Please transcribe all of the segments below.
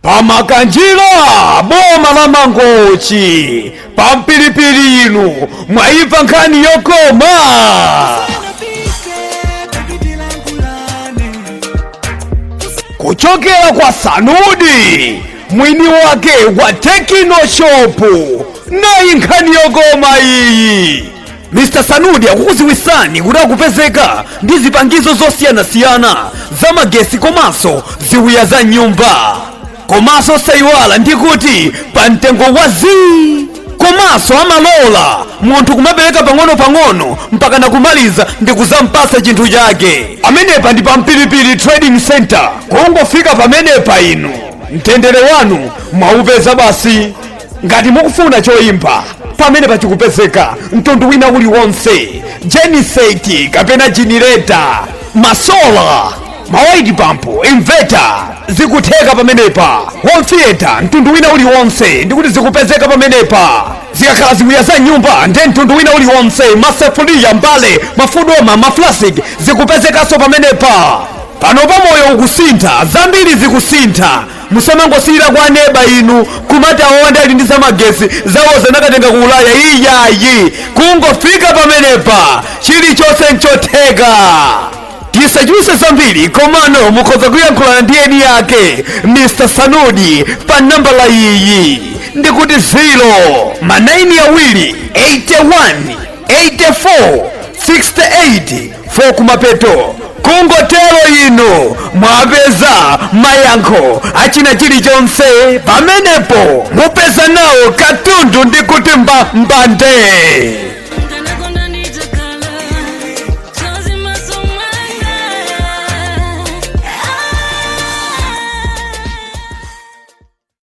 pamakanjira boma la mangochi pa mpilipili inu mwaiva nkhani yokoma kuchokera kwa sanudi mwini wake wa tekino shopu nayi nkhani yokoma iyi Mr Sanudi akukuziwisani kuti akupezeka ndi zipangizo zosiyanasiyana za magesi komanso ziwiya za m'nyumba komanso sayiwala ndi kuti pa mtengo wa zii komanso amalola munthu kumapereka pang'ono-pang'ono mpaka nakumaliza ndi kuzampasa chinthu chake pamenepa ndi pa mpilipili trading center kungofika pamenepa inu mtendere wanu mwaupeza basi ngati mukufuna choimba pamenepa chikupezeka mtundu wina uliwonse jeniseti kapena jinireta masola mawaiti pampu inveta zikutheka pamenepa home theater mtundu wina uliwonse ndikuti zikupezeka pamenepa zikakhala ziwiya za m'nyumba nde mtundu wina uliwonse masefuliya mbale mafudoma maflasik zikupezekanso pamenepa pano pa moyo ukusintha zambiri zikusintha musamangosilira kwa neba inu kumati awo nde ali ndi zamagesi zawozo anakatenga ku ulaya iyayi kungofika pamenepa chilichonse nchotheka tisachuluse zambiri komano mukhoza kuyankhulana ndi eni yake mr sanudi pa nambala iyi ndikuti 0 ma 9 awiri 81 8468 kumapeto kungotero inu mwapeza mayankho achina chilichonse pamenepo mupeza nawo katundu ndi kuti mbambande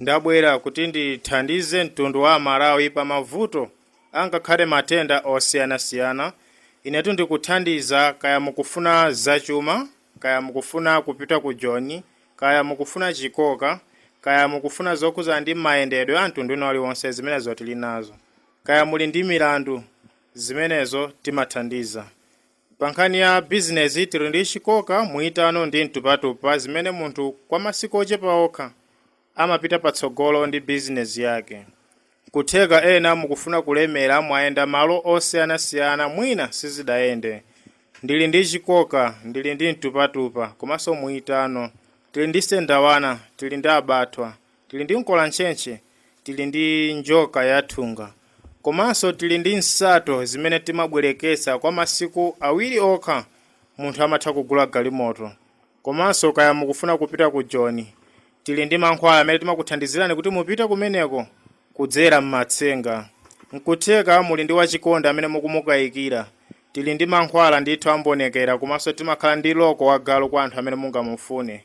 Ndabwera kuti ndithandize mtundu wa Amalawi pa mavuto angakhale matenda osiyanasiyana. Inetu ndikuthandiza kaya mukufuna zachuma, kaya mukufuna kupita ku Joni, kaya mukufuna chikoka, kaya mukufuna zokhudza ndi mayendedwe a mtundu wina uliwonse zimenezo tili nazo. Kaya muli ndi milandu, zimenezo timathandiza. Pankhani ya bizinezi, tiri ndi chikoka, muyitano ndi mtupatupa zimene munthu kwa masiku ochepa okha amapita patsogolo ndi bizinezi yake. Nkutheka ena mukufuna kulemera mwayenda malo osiyanasiyana mwina sizidayende. Ndili ndi chikoka, ndili ndi mtupatupa komanso muyitano. Tili ndi sendawana, tili ndi abathwa. Tili ndi mkolantchentche, tili ndi njoka yathunga, komanso tili ndi nsato zimene timabwerekesa kwa masiku awiri okha munthu amatha kugula galimoto. Komanso kaya mukufuna kupita ku Joni, tili ndi mankhwala amene timakuthandizirani kuti mupite kumeneko kudzera m'matsenga. Nkutheka muli ndi wachikondi amene mukumukayikira, tili ndi mankhwala ndithu ambonekera komanso timakhala ndi loko wa galu kwa anthu amene mungamufune.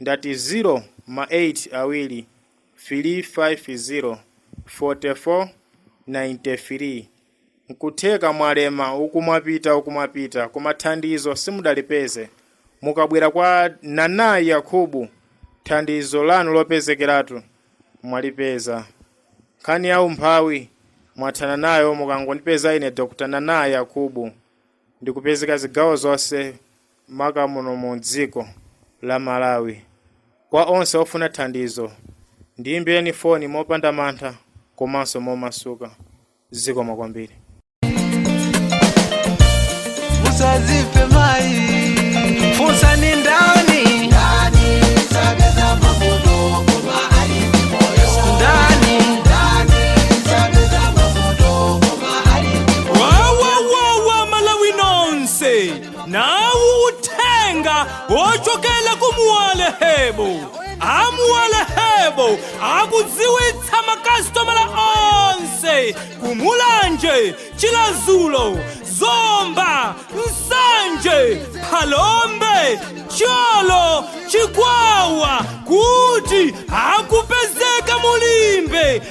Ndati zero ma 8 awiri filii 5 zero 44 nainte filii nkutheka mwalema uku mwapita uku mwapita koma thandizo simudalipeze mukabwera kwa Nana Yakubu thandizo lanu lopezekeratu mwalipeza nkhani ya umphawi mwathana nayo mukangondipeza ine Dr Nana Yakubu. ndikupezeka zigawo zonse maka muno mu dziko la Malawi. Kwa onse ofuna thandizo, ndiyimbireni foni mopanda mantha komanso momasuka. Zikomo kwambiri. Musazife mayi funsa ni ndani wawawawa malawi nonse nawo uthenga wochokera ku muwale hebo a muwale hebo akudziwitsa makasitomala onse ku mulanje chilazulo zomba nsanje phalombe cholo chikwawa kuti akupezeka mu limbe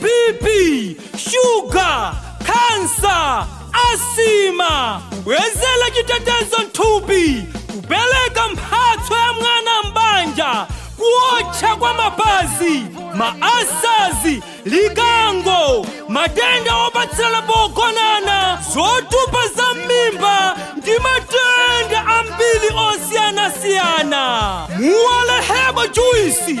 bp shuga kansa asima kubwezera chitetezo mthupi kupereka mphatso ya mwana m'banja kuotcha kwa mapazi maasazi likango matenda opatsirana pogonana zotupa za m'mimba ndi matenda ambiri osiyanasiyana muwale hebo juisi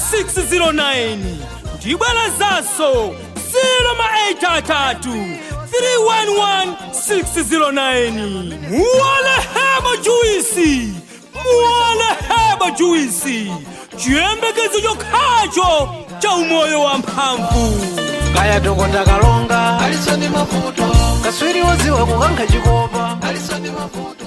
311609 ndibwerezanso 083 311609 muwale hebo juisi muwale hebo juisi chiyembekezo chokhacho cha umoyo wa mphamvu kaya dokota kalonga alisoni mavuto kaswiri woziwa kukankha chikopa alisoni mavuto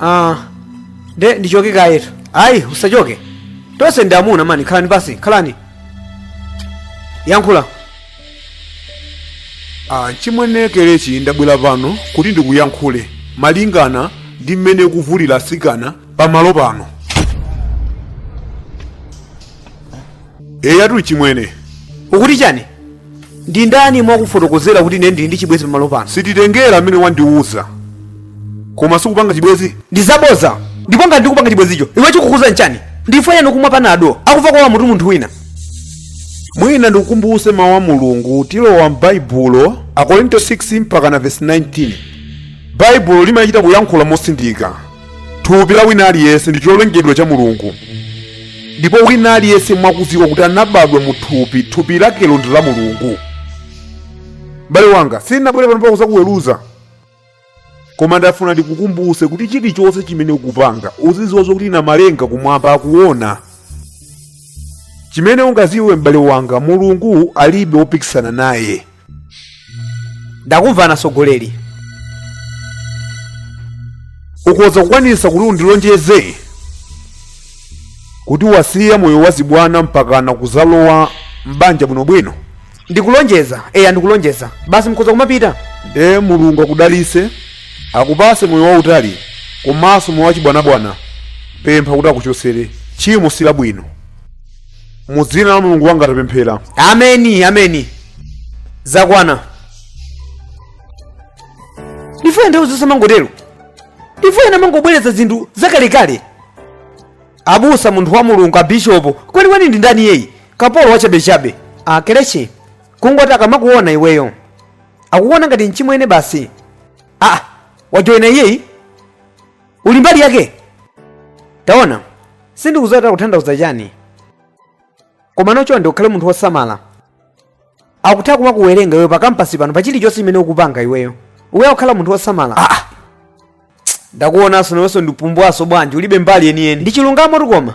ah nde ndichoke kayetu ayi usachoke tonse ndi amuna mani khalani pasi khalani yankhula achimwene kelechi ndabwera pano kuti ndikuyankhule malingana ndi mmene ukuvulira asikana pamalo pano eya atuli chimwene ukuti chani ndi ndani wakufotokozera kuti ine ndili ndi chibwezi pamalo pano sititengera amene wandiwuza koma sikupanga chibwezi ndi zaboza ndipo ngati ndikupanga chibwezicho iwe chikukukhuza nchani ndi chifaniyani kumwa panado akudwala akumva mutu munthu wina mwina ndikukumbuse mawu a mulungu tilowa m'baibulo akorinto 6 mpaka na vesi 19 baibulo limachita kuyankhula motsindika thupi la wina aliyense ndi cholengedwa cha mulungu ndipo wina aliyense mwakudziwa kuti anabadwa mu thupi thupi lakelo ndi la mulungu m'bale wanga sindinabwere pano pakuzakuweruza koma ndafuna ndikukumbuse kuti chilichonse chimene ukupanga uzidziwa zokuti namalenga kumwamba akuona chimene ungaziwe m'bale wanga mulungu alibe wopikisana naye ndakumvani asogoleri ukhoza kukwanisa kuti undilonjeze kuti wasiya moyo wazibwana mpakana kuzalowa m'banja bwinobwino ndikulonjeza eya ndikulonjeza basi mukhoza kumapita nde mulungu akudalise akupase moyo wautali komanso moyo wachibwanabwana pempha kuti akuchosere tchimo si labwino mu dzina la mulungu wanga tapemphera ameni ameni zakwana ndifuna nthawi zonse mangotero ndifuna mangobwereza zinthu zakalekale abusa munthu wa mulungu abishopo kwenikweni ndi ndani iyeyi kapolo wachabechabe ah kelechi kungoti akamakuona iweyo akukuona ngati mchimwene basi ah wajoyina iyeyi uli mbali yake taona sindikudziwa kuti kuthandauza chani komano chonde ukhale munthu wosamala akutha kumakuwerenga iweyo pakampasi pano pa chilichonse chimene ukupanga iweyo uyenera kukhala munthu wosamala ah. ah. ndakuonanso nawenso ndi pumbwaso bwanji ulibe mbali yeniyeni ndi chilungamotu koma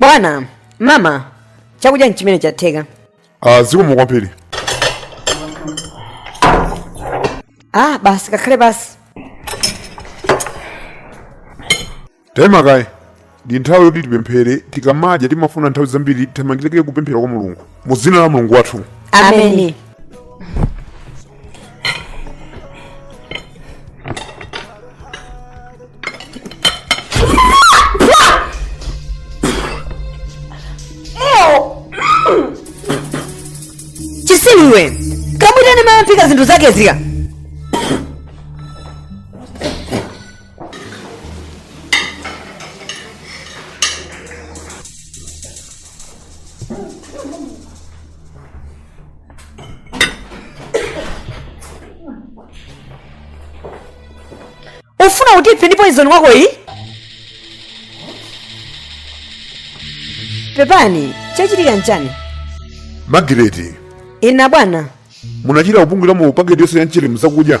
bwana mama chakudya nchimenechi chatheka Ah, zikomo kwambiri ah basi kakhale pasi taima kaye ndi nthawi yoti tipemphere tikamadya timafuna nthawi zambiri tizimangirike kupemphera kwa mulungu mu dzina la mulungu wathu ameni Chisi iwe kamwitane mama aphika zinthu zake zika ufuna kutipha ndi poison wako iyi pepani chachitika nchani magireti ine bwana munachita kupunguliramo paketi yonse ya mchere mzakudya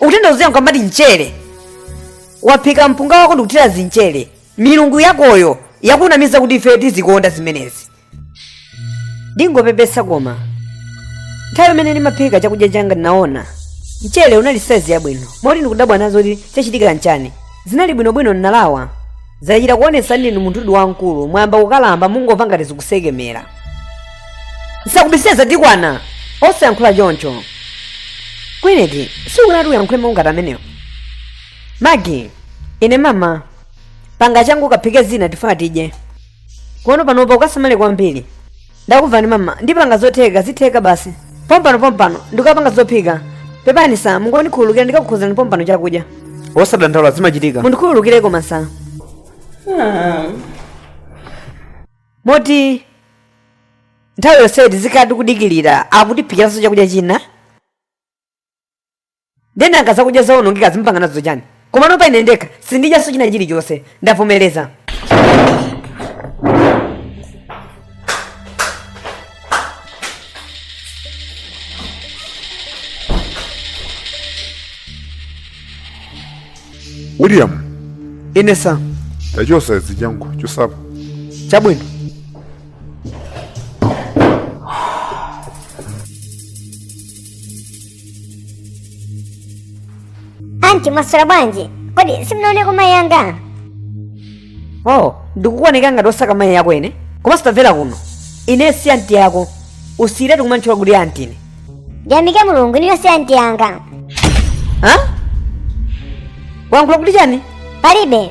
utenda udziwa nkuwamba ati mchere waphika mpunga wako ndikuthira zimchere milungu yakoyo yakunamiza kuti ife tizikonda zimenezi ndingopepesa koma nthawi imene ndimaphika chakudya changa ndinaona mchere unali saizi yabwino moti ndikudabwa nazo kuti chachitika nchani zinali bwinobwino ndinalawa zachita kuonetsa ndinu munthudi wamkulu mwayamba kukalamba mungomva ngati zikusekemera nsakubisireni zatikwana osayankhula choncho gwineti sikunati uyankhule mau ngati amenewo magi ine mama panga changu kaphike zina tifuna tidye komano panopa ukasamale kwambiri ndakubvani mama ndipanga zotheka zitheka basi pompano pompano ndikapanga zophika pepani sa mungondikhululukira ndikakukonzerani pompano chakudya osadandaula zimachitika mundikhululukire koma sa moti nthawi yonseyi tizikhala tikudikirira akutiphikiranso chakudya china ndiye nanga zakudya zaonongekazi mpanga nazo chani komano pa ine ndekha sindidyanso china chilichonse ndavomereza william ine sa tachotsa zinazo chotsa apa chabwino anti mwaswera bwanji kodi simunaoneko mayi anga oh ndikukuoneka ngati osaka mayi yako ine komanso tamvera kuno ine si anti yako usiyiretu kumantchula kuti anti ine ndiyamike mulungu inuyo si anti anga ha wayankhula kuti chani palibe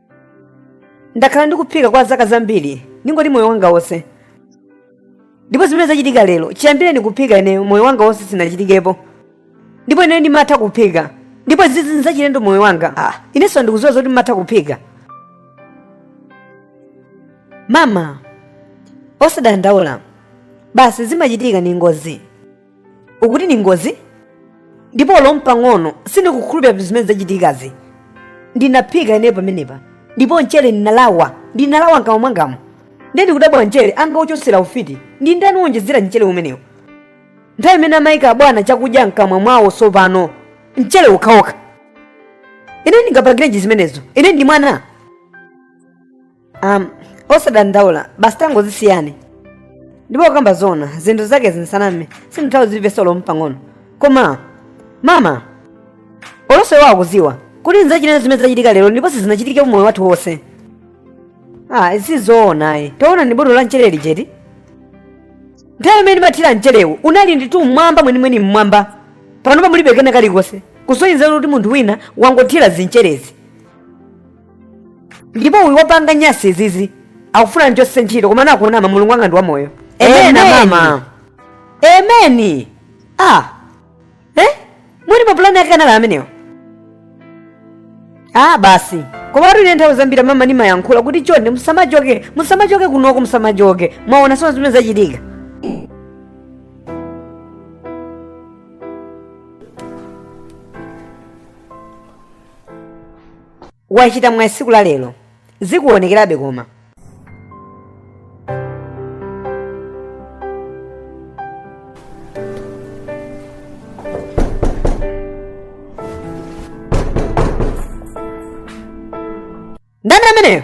ndakhala ndikuphika kwa zaka zambiri ndingoti moyo wanga wonse ndipo zimene zachitika lero chiyambireni kuphika ineyo moyo wanga wonse sinachitikepo ndipo ineyo ndimatha kuphika ndipo izizi nzachilendo moyo wanga ah, inenso ndikuziwa zoti mumatha kuphika mama osadandaula basi zimachitika ndi ngozi ukuti ndi ngozi ndipo olo mpang'ono sindikukhulupirira kuti zimene zachitikazi ndinaphika ineyo pamenepa ndipo mchere ndinalawa ndinalawa mkamwa mwangamu ndiye ndikudabwa mchere angauchosere ufiti ndi ndani wonjezera mchere umenewu nthawi imene amayika abwana chakudya mkamwa mwawo tsopano mchere ukhawokha ine ndingapangirenji zimenezo ine ndi mwana um, osadandaula basi tangozisiyani ndipo kukamba zona zinthu zake zinsaname sindithawi zilibe solo mpang'ono koma mama olonse wawo akuziwa kuti nzachilendo zimene zachitika lero ndipo sizinachitike mu moyo wathu wonse ah izi zoona ayi taona ni botolo la mchere lijeti nthawi imene ndimathira mcherewu unali nditu mmwamba mwenimweni mmwamba panopa mulibe kena kalikonse kusonyeza kuti munthu wina wangothira zimcherezi ndipo uyu wapanga nyasi izizi akufuna ndichoke ntchito koma anaunama mulungu wanga ndi wamoyo Amen. amen mama ameni ah eh? mwini mapulani ake anali amenewo ah basi koma kuti ine nthawi zambiri mama ndimayankhula kuti chonde musamachoke musamachoke kunoko musamachoke mwaona sono zimene zachitika wachita mwayi tsiku la lero zikuonekerabe koma ndani ameneyo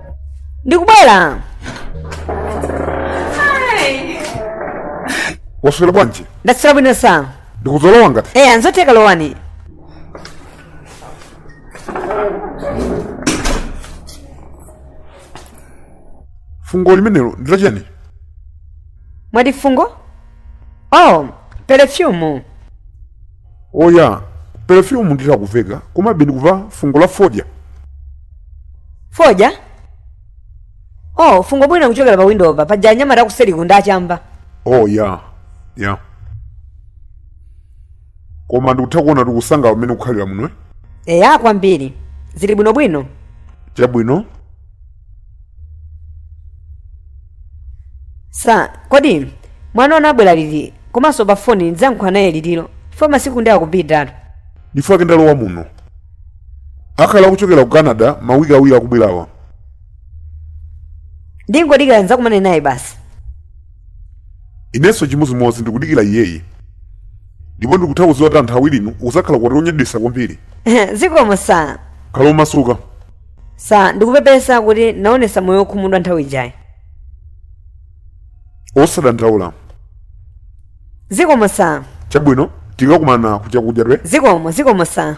ndikubwera waswera bwanji ndaswera bwino sa ndikhoza kulowa nawo eya nzotheka lowani fungo limenelo ndi lachani mwati fungo oh perefyumu oya perefyumu nditha kuiva komabe ndikuva fungo la fodya fodya oh fungo mwina likuchokera pa windo pa paja anyamata akuseriku ndi achamba oh ya ya koma ndikutha kuona kuti ukusangalala mmene ukukhalira muno eh? eya kwambiri zili bwinobwino chabwino sa kodi mwana wanu abwera liti komanso pa foni ndidzayankhula naye litiro chifukwa masiku ndi akupitiratu ndifunika ndalowa muno akhala akuchokera ku canada mawiki awiri akubwerawa ndingodikira ndidzakumane naye basi inenso chimodzimodzi ndikudikira iyeyi ndipo ndikutha kudziwa kuti anthu awirinu uzakhala ukwati onyadisa kwambiri zikomo sa khala omasuka sa ndikupepesa kuti naonesa moyo wokhumudwa nthawi ijayi osadandaula zikomo sa chabwino tikakumana kuchakudya kwe zikomo zikomo sa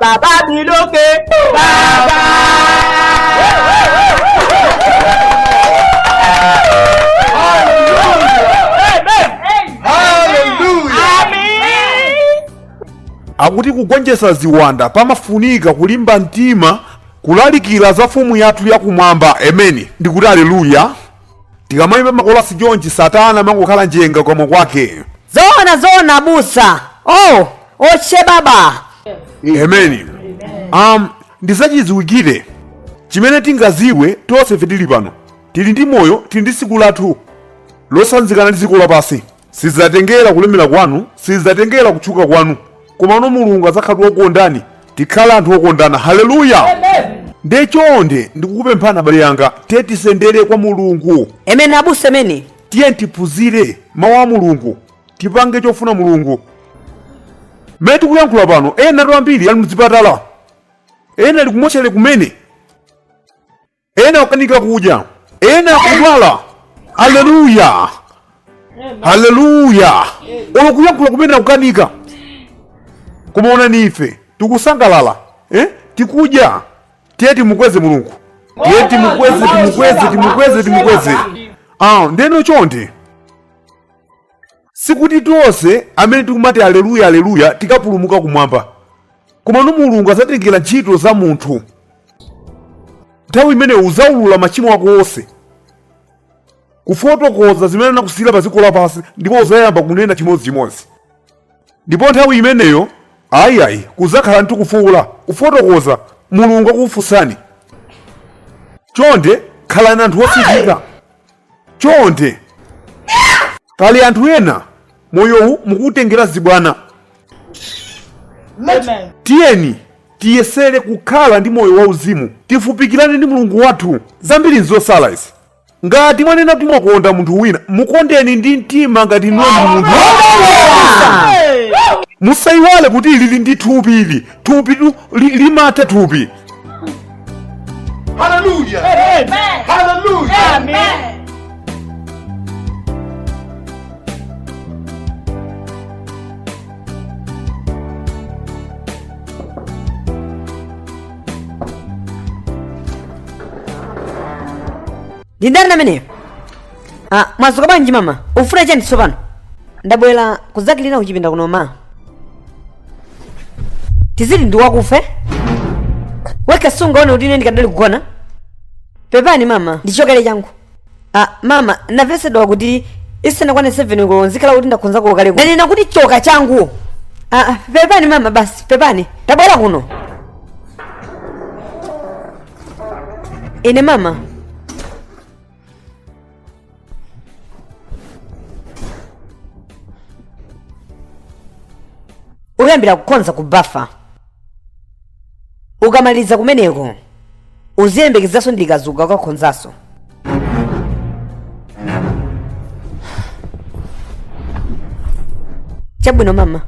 Baba biloke. Baba. akuti kugonjetsa ziwanda pamafunika kulimba mtima kulalikira za mfumu yathu yakumwamba ameni ndikuti aleluya tikamayimba makolasi chomchi satana amangokhala njenga komwe kwake zoona zoona abusa oh oche baba amen um, ndizachidziwikire chimene tingaziwe tonsefe tili pano tili ndi moyo tili ndi tsiku lathu losanzikana ndi dziko lapansi Sizidzatengera kulemera kwanu, sizidzatengera kutchuka kwanu, komano Mulungu adzakhala kuti wakukondani. Tikhale anthu okondana. Haleluya! Nde chonde ndikukupemphani abale anga, tiye tisendere kwa Mulungu, Amen abusa amen. tiye tiphunzire mawu a Mulungu, tipange chofuna Mulungu. Mmene tikuyankhula pano, enatu ambiri ali mzipatala, ena ali kumotchale kumene, ena akukanika kudya ena akudwala haleluya haleluya olo kuyankhula kumene akukanika koma onani ife tikusangalala eh? tikudya tiye timukweze mulungu tiye timukweze timukweze timukweze timukweze ah, nde no chonde Sikuti tonse amene tikumati Aleluya, Aleluya tikapulumuka kumwamba, komano Mulungu adzatengera ntchito za munthu. Nthawi imeneyo udzaulula machimo ako onse, kufotokoza zimene anakusiyira pa dziko lapansi, ndipo udzayamba kunena chimodzichimodzi. Ndipo nthawi imeneyo ayi ayi kudzakhala ndithu kufuula kufotokoza Mulungu akufunsani. Chonde khalani anthu osinthika. chonde pali anthu ena moyowu mukuwutengera zibwana Amen. tiyeni tiyesere kukhala ndi moyo wauzimu tifupikirane ndi mulungu wathu zambiri nzosala izi ngati mwanena kuti mwakonda munthu wina mukondeni ndi mtima ngati inuyo ndi munthu Hey. musayiwale kuti ili ndi thupi ili thupi tu- li- limatha thupi haleluya Amen. haleluya Amen. ndindani ameneyo ah, mwadzuka bwanji mama ufuna chani tsopano ndabwera kudzakilina kuchipinda kuno ma tizili ndiwakufa eti sungaone kuti ine ndikadali kugona pepani mama ndichokere changu ah, mama navesedwa kuti isanakwane 7 koloko nzikhala kuti ndakhonza kulo kale ndanena kuti choka changu ah, ah, pepani mama basi pepani tabwera kuno ine mama ukayambira kukonza ku bafa ukamaliza kumeneko uziyembekezanso ndikazuka ukakonzanso chabwino mama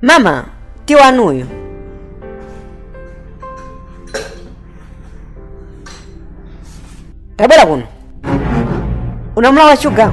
mama tiwanuyo tabwera kuno unamulawa shuga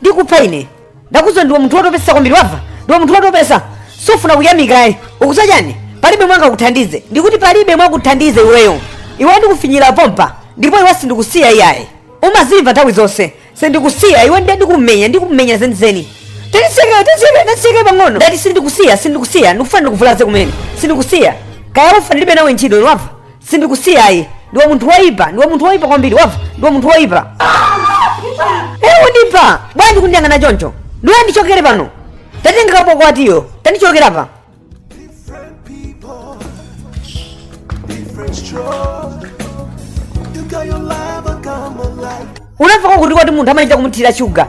ndikupha ine ndakuuza ndiwe munthu wotopesa kwambiri wamva ndiwe munthu wotopesa sufuna kuyamikayi ukuuza chani palibe mwanga kuthandize ndikuti palibe mwakuthandize iweyo iwe ndikufinyira pompa ndipo iwe sindikusiya iyayi umazimva nthawi zonse sindikusiya iwe ndiye ndikumenya ndikumenya zenizeni tatisekere tatisekere tatisekere pang'ono ndati sindikusiya sindikusiya ndikufuna ndikuvulaze kumene sindikusiya kaya ufa ndilibe nawe ntchito wamva sindikusiya ayi ndiwe munthu woyipa ndiwe munthu woyipa kwambiri wamva ndiwe munthu woyipa ewu ndipa bwanji kundiyang'ana choncho ndiwe ndichokere pano tatenga kapokwatiyo tandichokera apa Different stroke. You got your life, I got my life. unamva kwakuti kwakuti munthu amachita kumuthira shuga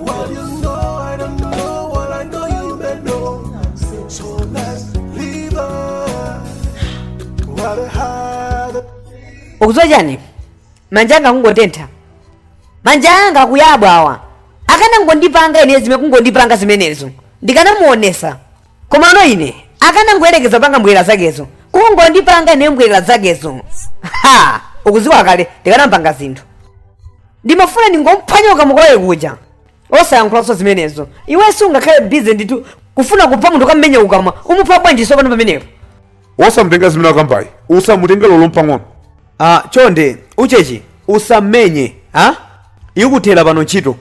What you know, I don't know. What I know, you may know. So let's live on. What a hard ukudziwa chani manja anga kungotentha manja anga akuyabwa awa akanangondipanga ine zimene kungondipanga zimenezo ndikanamuonesa komano ine akanangoyerekeza kupanga mbwerera zakezo kungondipanga ine mbwerera zakezo ha ukuziwa kale ndikanampanga zinthu ndimafuna ndingomphwanya kukamwa kwake kuja osayankhulanso zimenezo iwe sungakhale bize ndithu kufuna kupha munthu kummenya kukamwa umupha bwanji nsopano pamenepo wosamtenga zimene akambayi usamutenge lolo mpang'ono ah chonde uchechi usammenye ha ikuthera pano ntchito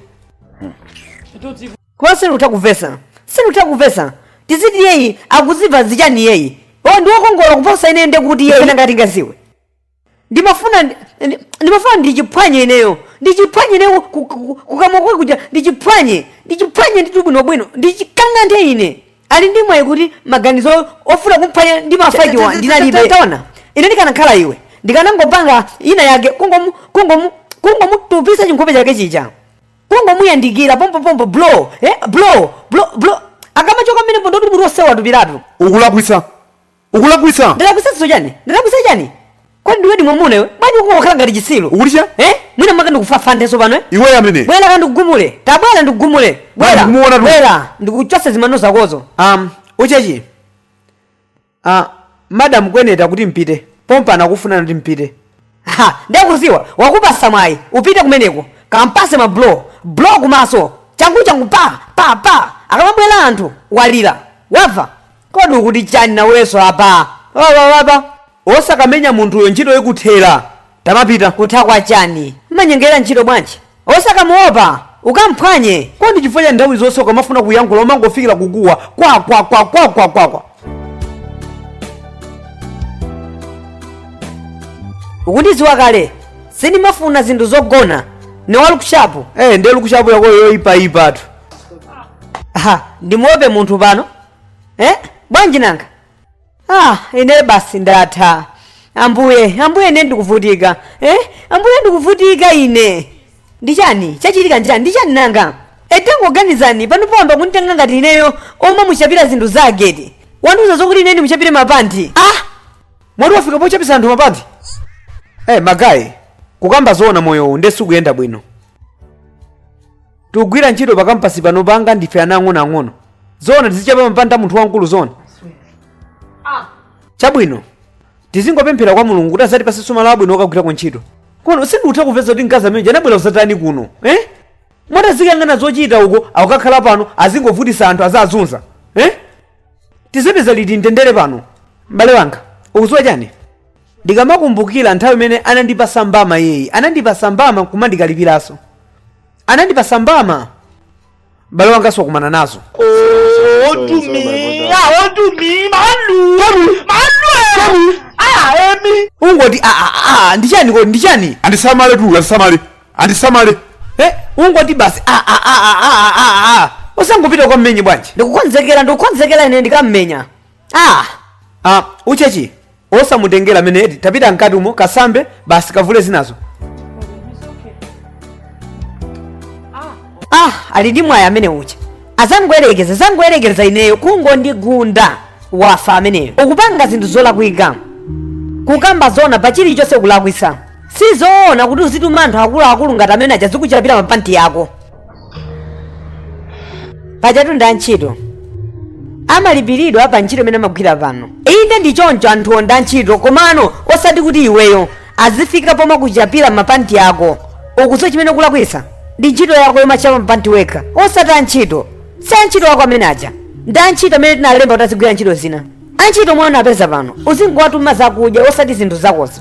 Koma sindikutha kumvetsa. Sindikutha kumvetsa. Tiziti iyeyi akuziva zichani iyeyi? Oh, ndi wokongola kuposa ineyo ndiye kuti iyeyi nanga tingaziwe. Ndimafuna ndi- ndi- ndimafuna ndichiphwanye ineyo. Ndichiphwanye ineyo ku- ku- ku- kukamwa kwake kuja ndichiphwanye. Ndichiphwanye ndithu bwinobwino. Ndichikang'anthe ine. Ali ndi mwayi kuti maganizo ofuna kumphwanya ndima pachiya ndinalibe. Taona, ine ndikanakhala iwe. Ndikanangopanga ina yake kungomu kungomu kungomutupisa chinkhope chake chija. kungomuyandikira pompopompo blow eh, blow blow blow akamachoka mmenepo ndi woti mutu onse watupiratu ukulakwitsa ukulakwitsa ndalakwitsaso chani ndalakwitsa chani kodi ndiwedi mwamuna iwe bwanji ukungokhala ngati chitsilu ukuti cha eh mwina maka ndikufafandeso pano eh iweyo amene bwera ka ndikugumule tabwera ndikugumule Bwana, ndikumuona tu. bwera ndikuchose zimano zakozo um uchechi A madam kweneko akuti mpite pompano akufunani kuti mpite. Ha! Nde ukuziwa wakupasa mwayi upite kumeneko kampase ma blow blow kumaso changu changu pa pa pa akamabwela anthu walila wava kodi ukuti chani naweso apa wawa apa osakamenya munthuyo ntchito ikuthela. Tamapita. Kutha kwa chani? Mmanyengera ntchito bwanji? Osakamuopa! Ukamphwanye! Kodi chifukwa chani nthawi zonse ukamafuna kuyankhula umangofikira kukuwa kwakwakwakwakwakwakwa? Ukundidziwa kale, sindimafuna zinthu zogona. Ndine wa lukushapu. Eh, ndiye lukushapu yako yoipaipatu. Aha, ndimuope munthu pano? Eh, bwanji nanga? ah ine basi ndatha ambuye ambuye ine ndikuvutika eh? ambuye ndikuvutika ine ndi chani chachitika ndi chani ndi chani nanga etangoganizani pano poyamba kunditenga ngati ineyo womamuchapira zinthu zake eti wandiuza zokuti ine ndimuchapire mapanti ah mwati wafika pochapisa anthu mapanti eh magayi kukamba zoona moyowu ndiye sikuyenda bwino tikugwira ntchito pa kampasi pano pangati ndife ana ang'onoang'ono zoona tizichapa mapanti a munthu wamkulu zoona chabwino tizingopemphera kwa mulungu kuti azatipase tsogolo labwino okagwira ko ntchito koma no sindikutha kumvetsa kuti mkazi ameneja anabwera kuzatani kuno eh? moti azikangana zochita uko akakhala pano azingovutisa anthu azazunza eh? tizapeza liti mtendere pano m'bale wanga ukuziwa chani ndikamakumbukira nthawi imene anandipasa mbama yeyi anandipasa mbama kumandikalipiranso anandipasa mbama bale wangaso wakumana nazo Oh, do Sorry, me. sorry, sorry. Ah, oh, do me. Malu. Malu. Ah, Emi. ungoti "Ah, ah, ah, ndichani kodi ndichani andisamale tu andisamale andisamale Eh, ungoti basi "Ah, ah, ah, ah, ah, ah, ah." osangopita kwa mmenye bwanji ndikukonzekera ndikukonzekera ine ndikammenya ah ah uchechi osamutengera mene eti tapita mkati umo kasambe basi kavule zinazo ah ali ndi mwayi amene uja azangoyerekeza zangoyerekeza ineyo kungondigunda wafa ameneyo ukupanga zinthu zolakwika kukamba zona pa chilichonse kulakwisa sizoona kuti uzituma anthu akuluakulu ngati amene aja azikuchapira mapanti yako pajatu ndi antchito amalipiridwa pa ntchito imene amagwira pano inde ndi choncho anthuwo ndi antchito komano osati kuti iweyo azifika pomakuchapira mapanti ako ukudziwa chimene kulakwisa ndi ntchito yako yomachapa mapanti wekha osati antchito si antchito wako amene aja ndi antchito amene tinalemba kuti azigwira ntchito zina antchito omwe unapeza pano uzingowatuma zakudya osati zinthu zakozo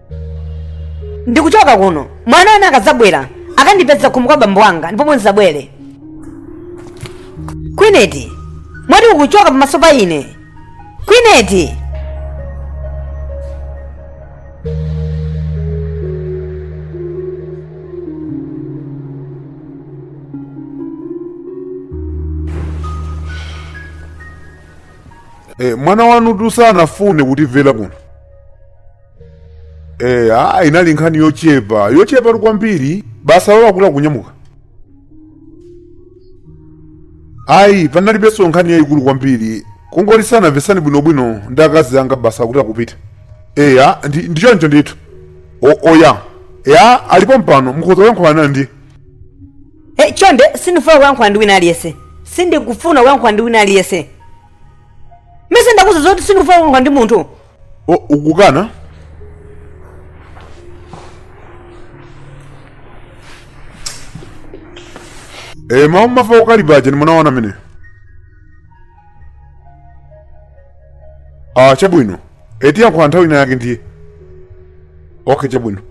ndikuchoka kuno mwana wanu akadzabwera akandipeza kumu kwa bambo wanga ndipo ndizabwere kwineti mwati ukuchoka pamaso pa ine kwineti Eh, mwana wanu tu sanafune kutimvera kuno Eh, ah, inali nkhani yochepa yochepa tu kwambiri basi wangoti akunyamuka ayi panalibenso nkhani yayikulu kwambiri kungoti sanamvetsane bwinobwino ndi akazi anga basi akuti akupita eya ndi ndi choncho ndithu O- oya ya ali pompano mukhoza kuyankhulana ndi Eh, chonde sindifuna kuyankhula ndi wina aliyense sindikufuna kuyankhula ndi wina aliyense ndimayesa ndakuuza zoti sindikufuna kuyankhula ndi munthu o oh, ukukana Eh, mwaumva ukali wacheni mwana wanu mene. Ah, chabwino. Tiyankhula nthawi ina yake ndiye. Okay, chabwino.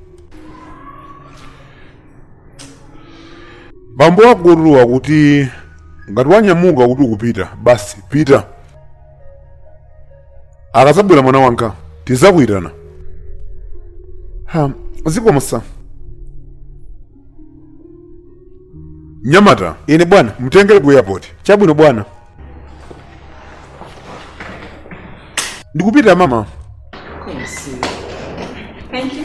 Bambo wako akukuuza kuti ngati wanyamuka kuti ukupita, basi pita. akazabwera mwana wanga tizakuyitana ha zikomo sa nyamata ine bwana mtengere ku airport chabwino bwana ndikupita mama Thank you.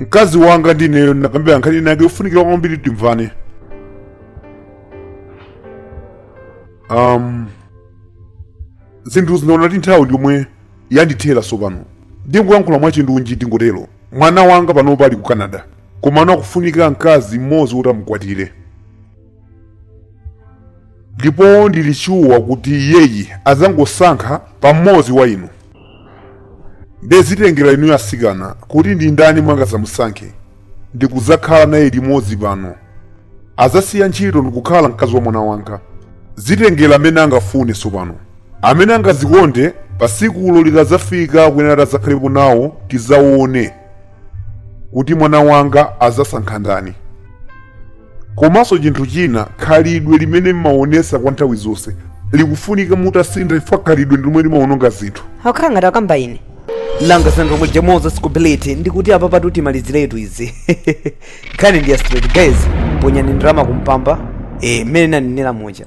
mkazi wanga ndineyo tinakambirana nkhani inayake yofunikira kwambiri timvane um, zinthu zina ndaona kuti nthawi ndiyomwe yandithera tsopano ndingoyankhula mwachindunji ndingotero mwana wanga panopa ali ku canada komano akufunika mkazi mmodzi kuti amukwatire ndipo ndili shuwa kuti iyeyi adzangosankha mmodzi wa inu ndezitengera inu asikana kuti ndi ndani mwana wanga adzamusankhe ndikudzakhala naye limodzi pano adzasiya ntchito ndikukhala mkazi wa mwana wanga zitengera amene angafune tsopano amene angazikonde pa tsikulo likadzafika akuyenera adzakhalepo nawo tidzaone kuti mwana wanga adzasankha ndani komanso chinthu china khalidwe limene mmaonesa kwa nthawi zonse likufunika mutasintha chifukwa khalidwe ndilomwe limaononga zinthu akhala ngati akamba ine langa sandromwe jamoza scobility ndikuti apa patu timaliziretu izi nkhani ndi ya straight guys ponyani ndalama kumpamba eh mmene ndinanenera muja